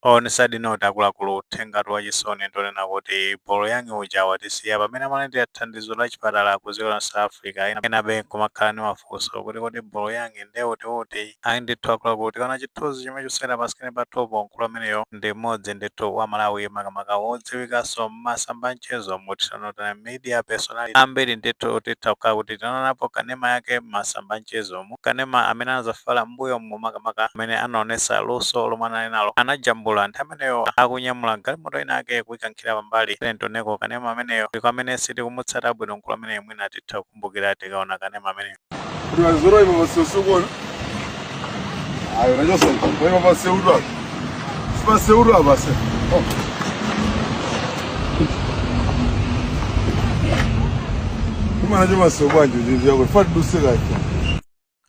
On sad note akuluakulu uthengatu wachisoni ndi onena kuti Bolo Young uja watisiya pamene amalandira thandizo la chipatala ku dziko la South Africa, enabe nkumakhala ndi mafunso kuti kodi Bolo Young nde uti uti? Ayi ndithu akuluakulu tikaona chithunzi chomwe chikusewera pa screen pathupo, mkulu ameneyo ndi mmodzi ndithu wa Amalawi makamaka wodziwikaso mmasamba anchezomu, titchanso kuti media personality, ambiri ndithu titha kukhala kuti tinaonapo kanema yake mmasamba anchezo mu. kanema amene anadzafala m'mbuyomu, makamaka amene anaonetsa luso lomwe anali nalo, anajambula nthawi imeneyo akunyamula galimoto inayake kuikankhira pambali. Tiyeni tioneko kanema ameneyo ndi kwa amene sitikumutsata bwino mkulu ameneyu mwina titha kukumbukira tikaona kanema ameneyo. Kuti wazoro iwe wasiosokona. Ayo, nacho sasa. Wewe wasiodwa. Sipase uru abase. Kuma hajo maso bwanjo jinzi yako. Fati dusika ito.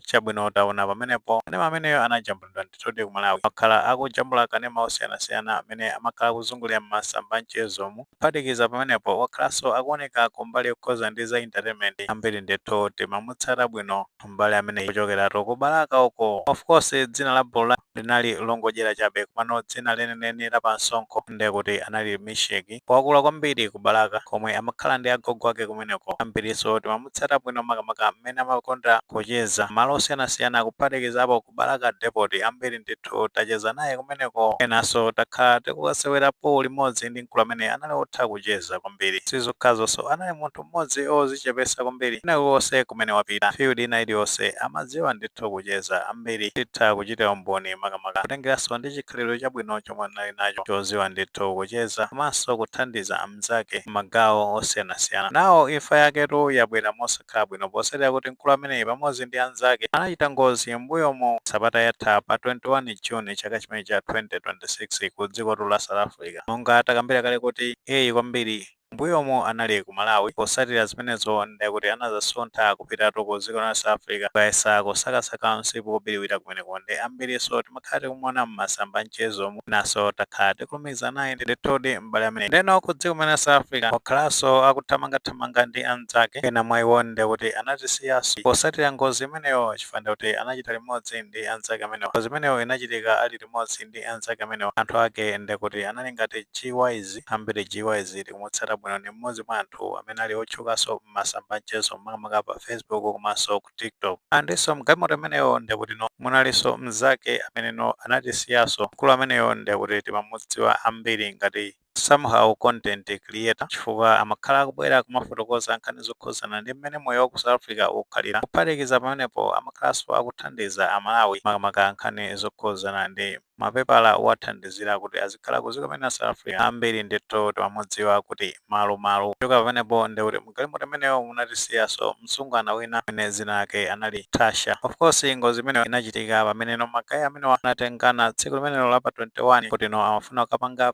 chabwino taona pamenepo kanema ameneyo anajambulidwa ndithu ali ku malawi wakhala akujambula kanema osiyanasiyana amene amakhala akuzungulira m'masamba mchezomu kuphatikiza pamenepo wakhalanso akuoneka kumbali yokhudzana ndi za entertainment ambiri ndithu timamutsata bwino m'bale ameneyu kuchokeratu ku balaka uko of course dzina la bolo la linali longodyera chabe komano dzina lenileni la pansonkho nde kuti anali Misheki wakula kwambiri ku Balaka komwe amakhala ndi agogo ake kumeneko. Ambiriso timamutsata bwino makamaka mmene amakonda kucheza malo osiyanasiyana kuphatikizapo ku Balaka Depoti. Ambiri ndithu tacheza naye kumeneko enaso takhala tikukasewera pool limodzi ndi mkulu ameneyu anali otha kucheza kwambiri. Sizokhazoso anali munthu. mmodzi ozichepesa kwambiri kwina kulikonse kumene wapita field ina iliyonse amadziwa ndithu kucheza ambiri titha kuchita umboni makamaka kutengeranso ndi chikhalidwe chabwino chomwe anali nacho choziwa ndithu kucheza komanso kuthandiza anzake mmagawo osiyanasiyana now imfa yaketu yabwera mosakhala bwino potsatira kuti mkulu ameneyi pamodzi ndi anzake anachita ngozi mmbuyomu sabata yatha pa 21 june chaka chomwe cha 2026 ku dzikotu la south africa monga takambira kale kuti ayi kwambiri Mbuyomu anali ku Malawi posatira zimenezo ndekuti anazasuntha kupitatu ku ziko la South Africa kukayesa kusakasaka msipu wobiliwira kumeneko nde ambiriso timakhala tikumuona mmasamba anchezomu mwinaso takhala tikulumikizana naye ndithudi m'bale ameneyu ndeno ku dziko la South Africa wakhalaso akuthamangathamanga ndi anzake ena mwa iwo ndekuti anatisiyaso posatira ngozi imeneyo chifukwa ndekuti anachita limodzi ndi anzake amenewa ngozi imeneyo inachitika ali limodzi ndi anzake amenewa anthu ake ndekuti anali ngati G-Wise ambiri G-Wise tikumutsata bwino ndi mmodzi mwa anthu amene ali otchukaso mmasamba anchezo makamaka pa facebook komaso ku tiktok and so mgalimoto imeneyo ndekuti no munaliso mzake amene no anatisiyaso mkulu ameneyo ndekuti timamudziwa ambiri ngati somehow content creator chifukwa amakhala akubwera kumafotokoza nkhani zokhuzana ndi mmene moyo wa ku south africa ukhalira kuphatikiza pamenepo amakhalaso akuthandiza amalawi makamaka nkhani zokhuzana ndi mapepala owathandizira kuti azikhala ku ziko mene South Africa ambiri ndithu timamudziwa kuti Malumalu kuchoka pamenepo nde kuti mgalimoto imeneyo munatisiyaso msungwana wina amene zina lake anali Tasha of course ngozi imeneyo inachitika pameneno ma guy amenewa anatengana tsiku limenelo la pa 21 kuti no amafuna kukapanga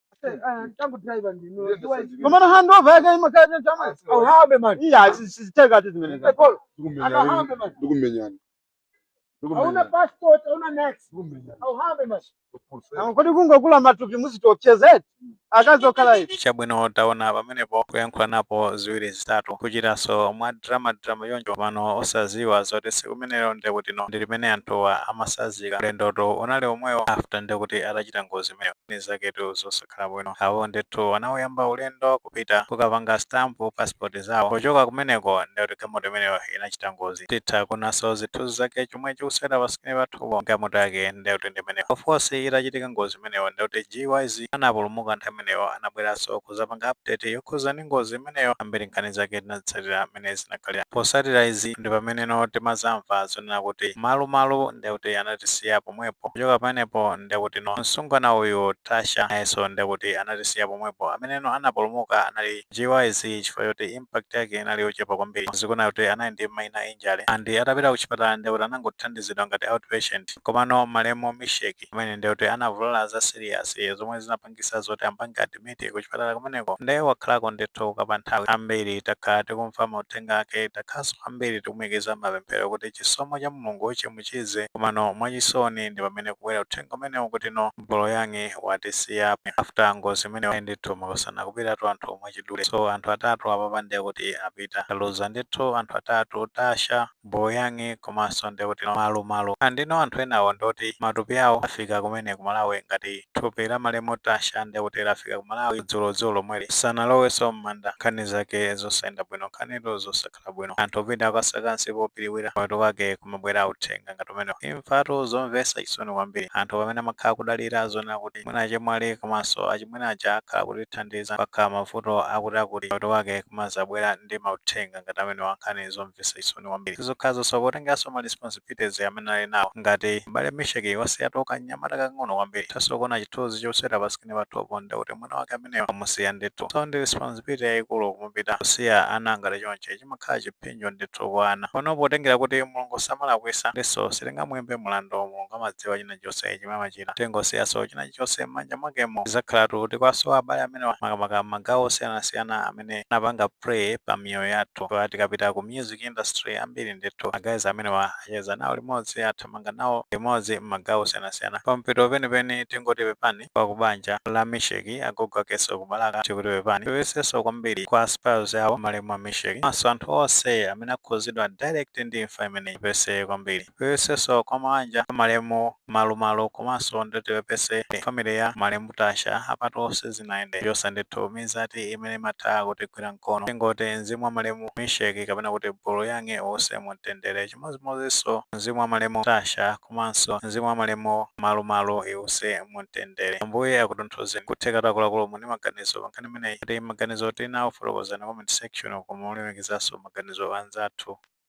komano handova yake imakhala chama Auhambe mani. iya siziteka tu zimene za Polo. Auhambe mani. Ndikumenyana. Hauna passport, hauna next. Auhambe mani. Ah, kodi kungokula matupi muzitopsezeti akazi okhala ichi chabwino taona pamenepo kuyankhula napo ziwiri zitatu kuchitanso mwa drama drama choncho komano osaziwa zoti siku limenelo ndekuti no ndi limene anthuwa amasazika ulendoto unali omwewo after ndekuti atachita ngozi imeneyo ndi zaketu zosakhala bwino. Awo ndithu anauyamba ulendo kupita kukapanga stamp passport zawo. Kuchoka kumeneko ndiye kuti galimoto imeneyo inachita ngozi. Titha kuonanso zithunzi zake chomwe chikusewera pa screen pathupo. Galimoto yake ndiye kuti ndi imeneyo. Of course itachitika ngozi imeneyo ndiye kuti GYZ anapulumuka nthawi imeneyo anabweranso kuzapanga update yokhuza ndi ngozi imeneyo. Ambiri nkhani zake tinazitsatira. mmene zinakhalira. Posatira izi ndipameneno timazamva zonena kuti Malumalu ndekuti anatisiya pomwepo. Kuchoka pamenepo ndekuti no msungwana uyu Tasha nayeso ndekuti anatisiya pomwepo. Ameneno anapulumuka anali GYZ chifukwa choti impact yake inali yochepa kwambiri zikuoneka kuti anali ndi minor injury and atapita kuchipatala ndekuti anangothandizidwa ngati out patient. Komano malemu Misheck amene ndekuti anavulala za serious zomwe zinapangitsa pangisa zoti ampange admit kuchipatala kumeneko nde wakhalako ndithu kwa kanthawi ambiri takhala tikumva mauthenga ake takhalanso ambiri tikumuikiza mmapemphero kuti chisomo cha Mulungu chimuchize komano mwachisoni ndipamene kubwera uthenga umenewu kuti no M'boloyang'e watisiya after ngozi imeneyo ayi ndithu makosana kupitatu kwa anthu mwachidule so anthu atatu apapa ndekuti apita taluza ndithu anthu atatu Tasha, Boloyang'e komanso ndiye kuti Malumalu and enano anthu enawo ndi oti matupi awo afika kumene ku Malawi ngati thupi la malemu Tasha ndiye kuti lafika ku Malawi dzulo dzulo lomweli sanalowenso mmanda nkhani zake zosayenda bwino nkhanitu zosakhala bwino anthu opita kukasaka msipu wobiriwira kumapeto kwake kumabwera mauthenga ngati amenewa imfatu zomvetsa chisoni kwambiri anthu pamene amakhala kudalira zonena kuti mwina achemwali komanso achimwene aja akhala akutithandiza pakakhala mavuto akuti akuti mapeto kwake kumazabwera ndi mauthenga ngati amenewa nkhani zom zomvetsa chisoni kwambiri. Si zokhazonso, potengeranso ma responsibilities amene anali nawo. Ngati M'bale Misheck wasiyatu kamnyamata kakang'ono kwambiri. Tithanso kuona chithunzi chosewera pa screen pathupo ndi kuti mwana wake ameneyo wamusiya ndithu. So ndi responsibility yaikulu kumupita kusiya ana ngati chonchi. Chimakhala chiphinjo ndithu kwa ana. Komano potengera kuti Mulungu samalakwisa, ndinso sitingamuimbe mlandu. Mulungu amadziwa china chonse chimene amachita. Tingosiyanso china chilichonse mmanja mwakemo. Tidzakhalatu tikuwasowa abale amenewa makamaka mmagawo osiyanasiyana amene. amene anapanga pray pa miyoyo yathu kwa tikapita ku music industry ambiri ndithu ma guys amenewa acheza nawo limodzi athamanga nawo limodzi m'magawo osiyanasiyana pamtima penipeni tingoti pepani kwa kubanja la misheki agogo akeso kubalaka tikuti pepani tipepesenso kwambiri kwa spouse yawo malemu a misheki maso anthu onse amene akhuzidwa direct ndi imfa imeneyi tipepese kwambiri tipepesenso kwa mawanja amalemu malu malu komanso ndi tipepese family ya malemu Tasha apatu onse sizinayende yosa ndithu mizati imene imatha kutigwira mkono tingoti mzimu wa malemu Misheck kapena kuti Bulu yang'e uuse mumtendere chimodzimodzinso mzimu wa malemu Tasha komanso mzimu wa malemu malu malu iuse mumtendere ambuye akutonthozeni kuthekatu akuluakulu muli ndi maganizo pankhani imeneyi kuti maganizo muli nawo fotokozani comment section koma mulemekezenso maganizo anzathu.